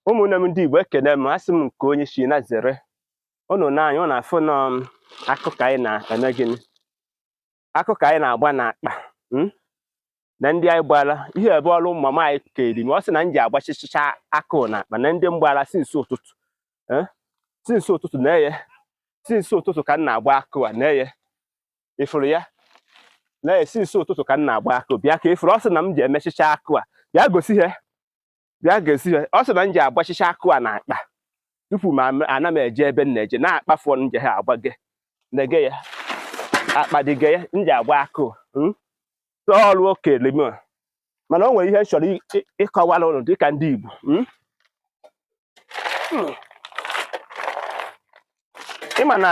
ụmụnne m ndị Igbo ekene m asị m nke onye si na zere ụnụ nee anya ụnụ afụ na ọ akụ ka anyị na-eme gịnị akụ ka anyị na-agba n'akpa hmm? nee ndị anyị gbara ihe ebe ọrụ mama anyị keri m ọ sị na m ji agbachichicha akụ na akpa nee ndị m gbara since ụtụtụ eh? since ụtụtụ nee ya since ụtụtụ ka m na-agba akụ a nee ya ị fụrụ ya nee ya since ụtụtụ ka m na-agba akụ bịa ka ị fụrụ ọ sị na m ji emechicha akụ a bịa gosi ha bịa gosi ha ọ sị na m ji agbachicha akụ a na akpa tupu m ana m eje ebe m na-eje nee akpa afụ m je ha agbage nege ya akpa dịge ya m ji agba akụ hmm? ọrụ o kele m mana o nwere ihe m chọrọ ịkọwara ụnụ dịka ndị Igbo hmm? Hmm. ị ma na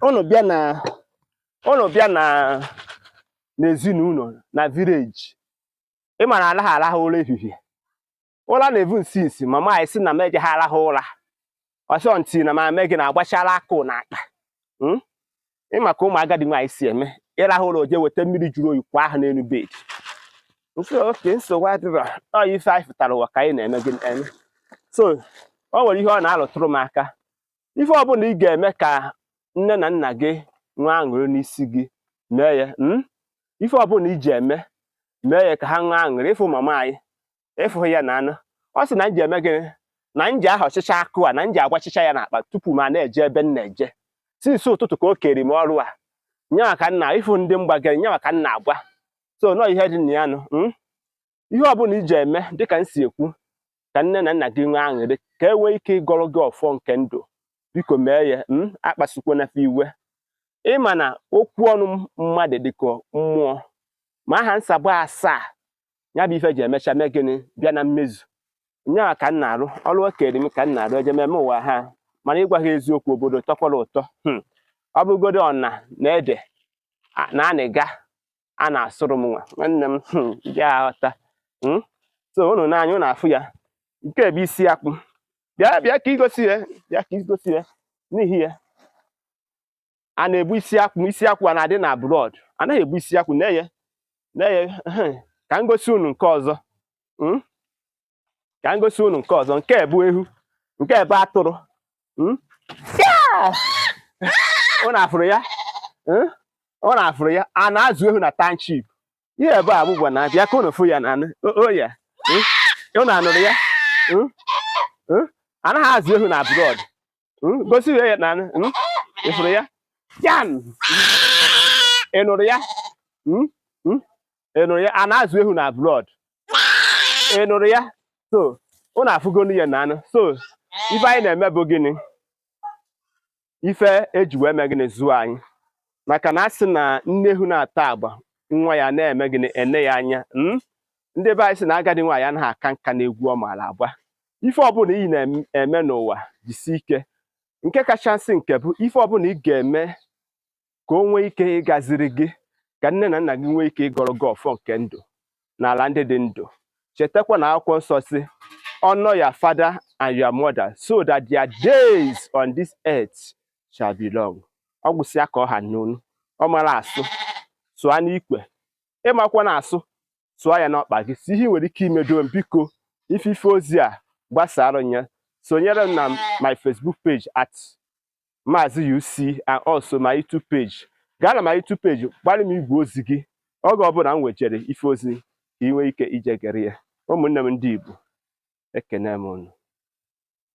ụnụ bịa na ụnụ bịa na n'ezinụlọ na village ị ma na anaghị arahụ ụra ehihie ụra na-evu m since mama anyị sị na m ejeghị arahụ ụra ọsọ until na m eme gịnị agbachala akụ na akpa hmm? ị ma ka ụmụ agadi nwaanyị si eme ị rahụ ụra o je weta mmiri juru oyi kwa ahụ n'elu bed so okay nsogbu adịrọ ọ ife anyị fụtara ụwa ka anyị na-eme gị eme so o nwere ihe ọ na-alụtụrụ m aka ife ọbụla ị ga-eme ka nne na nna gị nwee aṅụrị n'isi gị mee ya hmm? ife ọbụla i ji eme mee ya ka ha nwee aṅụrị ị fụ mama anyị ị fụghị ya na anụ ọ sị na m ji eme gịnị na m ji ahọchịcha akụ a na m ji agbachicha ya n'akpa tupu m a na-eje ebe m na-eje since ụtụtụ ka o keri m ọrụ a nyawa ka m na ị fụ ndị m gbagere nyawa ka m na-agba so nọọ ihe dị na ya nụ hmm? ihe ọbụla i ji eme dịka m si ekwu ka nne na nna gị nwee aṅụrị ka e nwee ike ịgọrọ gị ọfọ nke ndụ biko mee ya hmm? akpasukwena fa iwe ị ma na okwu ọnụ mmadụ dịka mmụọ ma aha nsabụ asaa ya bụ ife ji emecha mee gịnị bịa na mmezu nyaa ka m na-arụ ọrụ o kere m ka m na-arụ eje meme ụwa ha mana ịgwa gị eziokwu obodo tọkwara ụtọ hmm. ọ bụrụgodo ọna na ede na anịga a na-asụrụ m nwa nwanne m hmm, dị aghọta hmm. so unu nee anya unu afụ ya nke bụ isi akwụ bịa bịa ka i gosi ya bịa ka i gosi ya n'ihi ya a na-ebu isi akwụ isi akwụ a na-adị na abroad anaghị ebu isi akwụ nee ya nee ya ka m gosi unu nke ọzọ hmm? ka m gosi unu nke ọzọ nke bụ eghu nke bụ atụrụ hmm? unu afụrụ ya hmm? unu afụrụ ya a na-azụ eghu na township ihe ebe a bụbụ na bịa ka unu fụ ya na anụ oya unu anụrụ ya anaghị azụ eghu na abroad hmm? gosi ya na hmm? ị fụrụ ya yan ị nụrụ ya hmm? ị nụrụ ya a na-azụ ehu na abroad ị nụrụ ya so unu afụgonụ ya na anụ so ife anyị na-eme bụ gịnị ife e ji wee mee gịnị zụọ anyị maka na a sị na nne ehu na-ata agba nwa ya na-eme gịnị ene ya anya ndị be anyị sị na agadi nwaanyị anaghị aka nka n'egwu ọ maara agba ife ọbụla ị na-eme n'ụwa jisi ike nke kachasị nke bụ ife ọbụla ị ga-eme ka o nwee ike ịgaziri gị ka nne na nna gị nwee ike ịgọrọ gị ọfọ nke ndụ n'ala ndị dị ndụ chetakwa na akwụkwọ nsọ sị honor your father and your mother so that their days on this earth shall be long ọ gwụsịa ka ọ ha n'ọnụ ọ mara asụ sụọ n'ikwe ị makwana asụ sụọ ya n'ọkpa gị si ihe nwere ike imedo m biko ife ife ozi a gbasara ya sonyere m na my Facebook page at Maazị UC and also my YouTube page gaa na my YouTube page gbalị m igwe ozi gị oge ọbụla m wejere ife ozi ka ị nwee ike ije gere ya ụmụnne m ndị Igbo ekene m unu